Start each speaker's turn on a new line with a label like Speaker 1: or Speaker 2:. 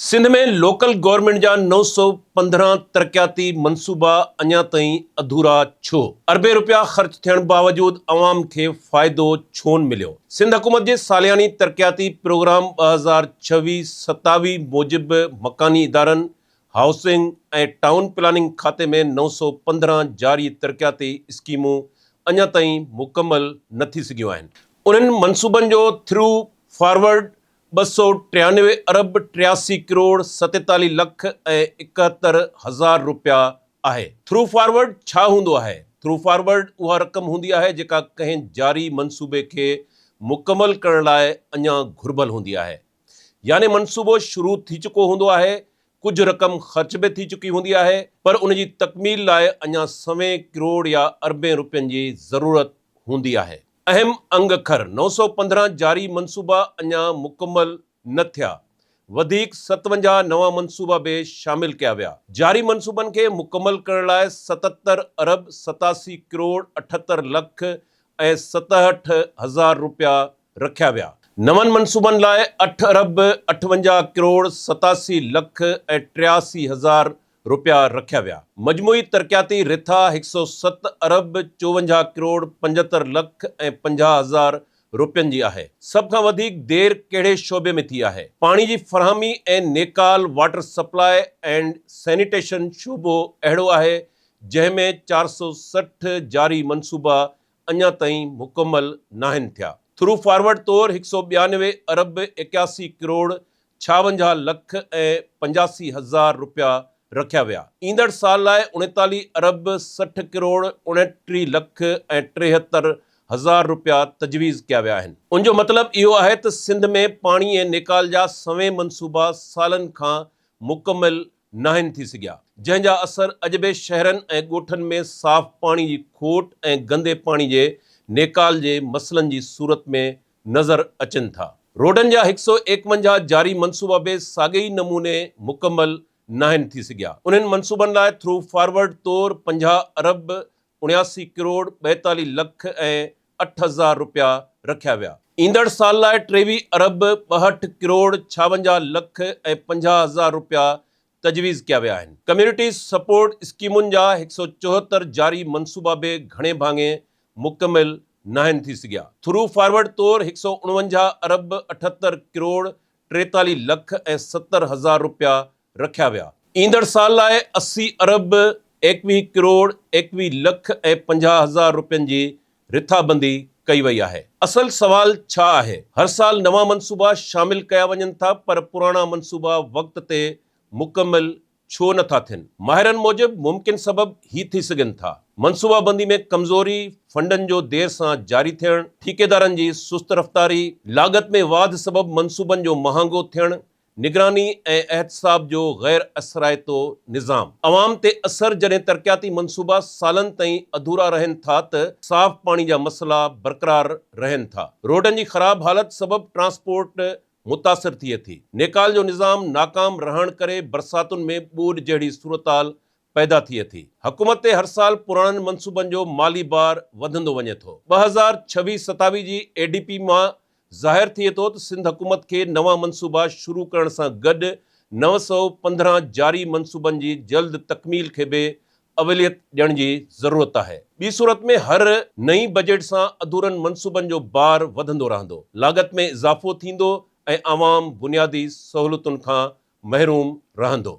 Speaker 1: Sindh ۾ local government جا نو سؤ پندرهن ترقياتي منصوبا اڃا تائين اڌورا ڇو؟ اربين رپيا خرچ ٿيڻ باوجود عوام کي فائدو ڇونه مليو؟ سنڌ حڪومت جي سالياني ترقياتي پروگرام ٻه هزار ڇويهه ستاويهه موجب مڪاني ادارن، هائوسنگ ۽ ٽائون پلاننگ کاتي ۾ نو سؤ پندرهن جاري ترقياتي اسڪيمون اڃا تائين مڪمل نه ٿي سگهيون آهن. انهن منصوبن جو ٿرو فارورڊ ٻه سؤ ٽيانوي ارب ٽياسي ڪروڙ ستيتاليهه لک ۽ اڪهتر هزار روپيا آهي. ٿرو فارورڊ ڇا هوندو آهي؟ ٿرو فارورڊ اها رقم هوندي آهي جيڪا ڪنهن جاري منصوبي کي مڪمل ڪرڻ لاء اڃا گهربل هوندي آهي. يعني منصوبو شروع ٿي چڪو هوندو آهي، ڪجهه رقم خرچ به ٿي چڪي هوندي آهي پر ان جي تڪميل لاء اڃا سوين ڪروڙ يا اربين روپين جي ضرورت هوندي آهي. اهم انگ کر نو سؤ پندرهن جاري منصوبا اڃا مڪمل نه ٿيا، وڌيڪ ستونجاهه نوان منصوبا به شامل ڪيا ويا، جاري منصوبن کي مڪمل ڪرڻ لاء ستتر ارب ستاسي ڪروڙ اٺهتر لک ۽ ستهٺ هزار روپيا رکيا ويا، نون منصوبن لاء اٺ ارب اٺونجاهه ڪروڙ ستاسي لک ۽ ٽياسي هزار رپيا رکيا ويا. مجموعي ترقياتي رٿا هڪ سؤ ست ارب چوونجاهه ڪروڙ پنجهتر لک ۽ پنجاهه هزار رپين جي آهي. سڀ کان وڌيڪ دير ڪهڙي شعبي ۾ ٿي آهي؟ پاڻي جي فراهمي ۽ نيڪال، واٽر سپلاء اينڊ سينيٽيشن، شعبو اهڙو آهي جنهن ۾ چار سؤ سٺ جاري منصوبا اڃا تائين مڪمل ناهن ٿيا. ٿرو فارورڊ طور هڪ سؤ ٻيانوي ارب ايڪياسي ڪروڙ ڇاونجاهه لک ۽ پنجاسي هزار رپيا رکيا ويا، ايندڙ سال لاء اڻيتاليهه ارب سٺ ڪروڙ اڻٽيهه لک ۽ ٽيهتر هزار رپيا تجويز ڪيا ويا آهن. ان جو مطلب اهو آهي ته سنڌ ۾ پاڻي ۽ نيڪال جا سوين منصوبا سالن کان مڪمل ناهن ٿي سگهيا، جنهن جا اثر اڄ به شهرن ۽ ڳوٺن ۾ صاف پاڻي جي کوٽ ۽ گندي پاڻي جي نيڪال جي مسئلن جي صورت ۾ نظر اچن ٿا. روڊن جا هڪ سؤ ايڪونجاهه جاري منصوبا به ساڳئي ئي نموني مڪمل ناهن ٿي سگهيا، انهن منصوبن لاء ٿرو فارورڊ طور پنجاهه ارب اڻياسي ڪروڙ ٻائيتاليهه لک ۽ اٺ هزار رپيا رکيا ويا. ايندڙ سال لاء ٽيويهه ارب ٻاهٺ ڪروڙ ڇاونجاهه لک ۽ پنجاهه هزار رپيا تجويز ڪيا ويا آهن. ڪميونٽي سپورٽ اسڪيمن جا هڪ سؤ چوهتر جاري منصوبا به گهڻي ڀاڱي مڪمل ناهن ٿي سگهيا. ٿرو فارورڊ طور هڪ سؤ اڻونجاهه ارب اٺهتر ڪروڙ ٽيتاليهه لک ۽ ستر هزار رپيا رکيا ويا. ايندڙ سال لاء اسي ارب ايڪويهه ڪروڙ ايڪويهه لک ۽ پنجاهه هزار رپين جي رٿابندي ڪئي وئي آهي. اصل سوال ڇا آهي؟ هر سال نوان منصوبا شامل ڪيا وڃن ٿا پر پراڻا منصوبا وقت تي مڪمل ڇو نه ٿا ٿين؟ ماهرن موجب ممڪن سبب هي ٿي سگهن ٿا، منصوبابندي ۾ ڪمزوري، فنڊن جو دير سان جاري ٿيڻ، ٺيڪيدارن جي سست رفتاري، لاڳت ۾ واڌ سبب منصوبن جو مهانگو ٿيڻ نگراني ۽ احتساب جو غير اثرائتو نظام عوام تي اثر جڏهن ترقياتي منصوبا سالن تائين اڌورا رهن ٿا ته صاف پاڻي جا مسئلا برقرار رهن ٿا روڊن جي خراب حالت سبب ٽرانسپورٽ متاثر ٿئي ٿي نيڪال جو نظام ناڪام رهڻ ڪري برساتن ۾ ٻوڏ جهڙي صورتحال پيدا ٿئي ٿي. حڪومت تي هر سال پراڻن منصوبن جو مالي بار وڌندو وڃي ٿو. ٻه هزار ڇويهه ستاويهه جي اي ڊي پي مان ظاهر ٿئي ٿو ته سنڌ حڪومت کي نوان منصوبا شروع ڪرڻ سان گڏ نو سؤ پندرهن جاري منصوبن جي جلد تڪميل کي به اوليت ڏيڻ جي ضرورت آهي. ٻي صورت ۾ هر نئين بجيٽ سان اڌورن منصوبن جو بار وڌندو رهندو، لاڳت ۾ اضافو ٿيندو ۽ عوام بنيادي سهولتن کان محروم رهندو.